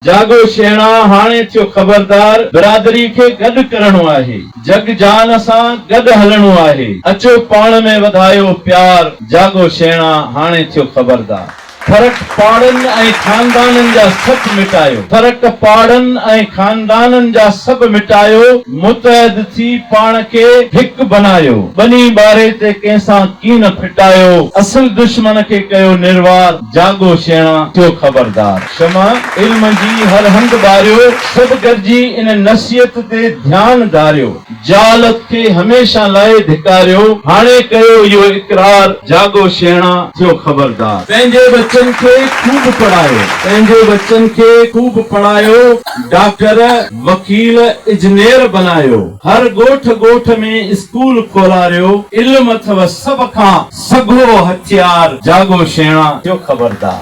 جاڳو شيڻا هاڻي ٿيو خبردار برادري کي گڏ ڪرڻو آهي جڳ جهان سان گڏ هلڻو آهي اچو پاڻ ۾ وڌايو پيار جاڳو شيڻا هاڻي ٿيو خبردار ڦرق پاڙن ۽ خاندانن جا سڀ مٽايو فرق پاڙن ۽ خاندانن جا سڀ مٽايو متحد ٿي پاڻ کي هڪ بنايو ٻني ٻاري تي ڪنهن سان ڪين ڦٽايو اصل دشمن کي ڪيو نروار جاڳو شيڻا ٿيو خبردار. شمع علم جي هر هنڌ ٻاريو. سڀ گڏجي ان نصيحت تي ڌيان ڌاريو. جهالت کي هميشه لاء ڌڪاريو. هاڻي ڪيو اهو اقرار، جاڳو شيڻا، ٿيو خبردار. پنهنجي ٻچن کي خوب پڙهايو. پنهنجي ٻچن کي خوب پڙهايو. ڊاڪٽر، وڪيل، اجنير بنايو. هر ڳوٺ ڳوٺ ۾ اسڪول کولاريو. علم اٿو سڀ کان. سگهو هٿيار جاڳو شيڻا جو خبردار.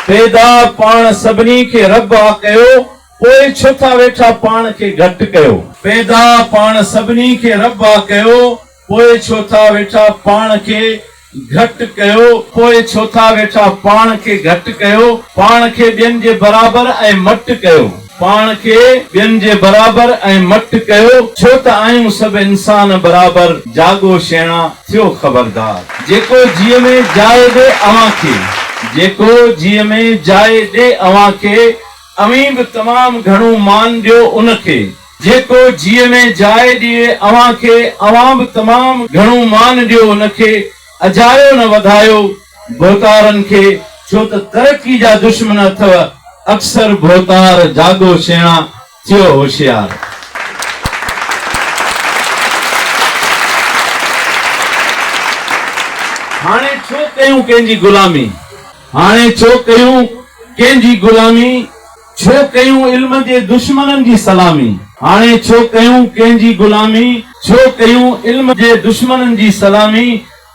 پيدا پاڻ سڀني کي رب آ ڪيو پوء ڇو ٿا ويٺا پاڻ کي گهٽ ڪيو. پيدا پاڻ سڀني کي رب آ ڪيو پوء ڇو ٿا ويٺا پاڻ کي گهٽ ڪيو پوء ڇو ٿا ويٺا پاڻ کي گهٽ ڪيو پاڻ کي ٻين جي برابر ۽ مٽ ڪيو پاڻ کي ٻين جي برابر ۽ مٽ ڪيو ڇو ته آهيون سڀ انسان برابر جاڳو شيڻا ٿيو خبردار جيڪو جيء ۾ جاء ڏي اوهان کي جيڪو جيء ۾ جاء ڏي اوهان کي اوهين به تمام گهڻو مان ڏيو ان کي جيڪو جيء ۾ جاء ڏئي اوهان کي، اوهان به تمام گهڻو مان ڏيو ان کي، اجايو نه وڌايو ڀوتارن کي، ڇو ته ترقي جا دشمن اٿئو اڪثر ڀوتار، جاڳو سيڻا، ٿيو هوشيار. هاڻي ڇو ڪيون ڪنهن جي غلامي، هاڻي ڇو ڪيون ڪنهن جي غلامي. ڇو ڪيون علم جي دشمنن جي سلامي. هاڻي ڇو ڪيون ڪنهن جي غلامي. ڇو ڪيون علم جي دشمنن جي سلامي.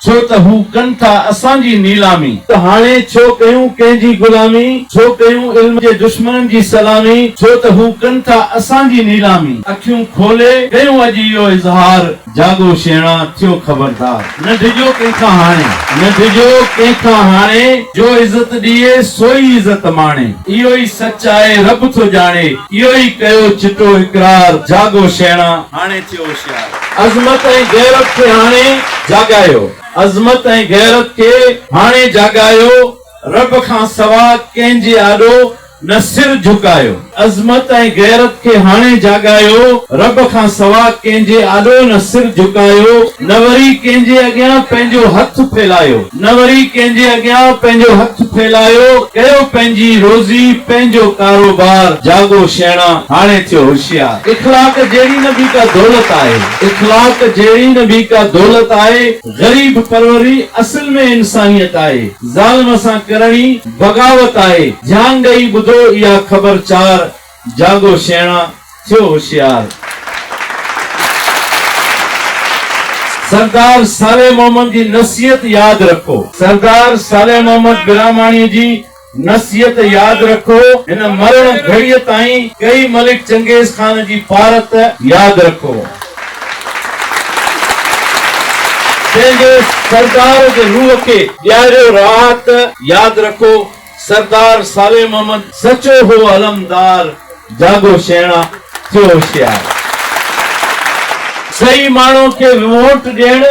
ڇو ته هو ڪن ٿا اسان جي نيلامي. هاڻي ڇو ڪيون ڪنهن جي غلامي. ڇو ڪيون علم جي دشمنن جي سلامي. ڇو ته هو ڪن ٿا اسان جي نيلامي. اکيون کولي ڪيون اڄ اهو اظهار. جاڳو شيڻا، ٿيو خبردار. نه ڊڄو ڪنهن کان هاڻي. نه ڊڄو ڪنهن کان هاڻي. جو عزت ڏيئي، سوئي عزت ماڻي. اهو ئي سچ آهي، رب ٿو ڄاڻي. اهو ئي ڪيو چٽو اقرار. جاڳو شيڻا، هاڻي ٿيو هوشيار. عظمت ۽ غيرت کي هاڻي جاڳايو. عظمت ۽ غيرت کي هاڻي جاڳايو. رب کان سوا ڪنهن جي آڏو. نه سر جهڪايو. عظمت ۽ غيرت کي هاڻي جاڳايو. رب کان سوا ڪنهن جي آڏو نه سر جهڪايو. نه وري ڪنهن جي اڳيان پنهنجو هٿ ڦيلايو. نه وري ڪنهن جي اڳيان پنهنجو هٿ ڦيلايو. ڪيو پنهنجي روزي، پنهنجو ڪاروبار. جاڳو شيڻا، هاڻي ٿيو هوشيار. اخلاق جهڙي نه ٻي ڪا دولت آهي. اخلاق جهڙي نه ٻي ڪا دولت آهي. غريب پروري اصل ۾ انسانيت آهي. ظالم سان ڪرڻي بغاوت آهي. ڌيان ڏئي ٻڌو اها خبر چار. جاڳو شيڻا، ٿيو هوشيار. سردار صالح محمد جي نصيحت ياد رکو. سردار صالح محمد براهماڻي جي نصيحت ياد رکو هن مرڻ گهڙيء تائين ڪئي ملڪ چنگيز خان جي پارت ياد رکو جنهن جي سردار جي روح کي ڏياريو راحت ياد رکو سردار صالح محمد سچو هو علمدار جاڳو شيڻا ٿيو هوشيار صحيح ماڻهو کي ووٽ ڏيڻ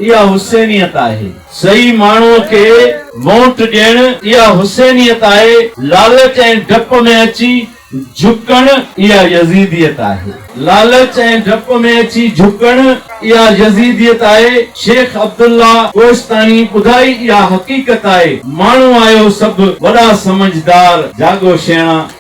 اها حسينيت آهي. صحيح ماڻهوء کي وونٽ ڏيڻ، اها حسينيت آهي. لالچ ۽ ڊپ ۾ اچي جهڪڻ، اها يزيديت آهي. لالچ ۽ ڊپ ۾ اچي جهڪڻ، اها يزيديت آهي. شيخ عبدالله ڪوهستاني ٻڌائي اها حقيقت آهي. ماڻهو آهيو سڀ، وڏا سمجهدار، جاڳو شيڻا.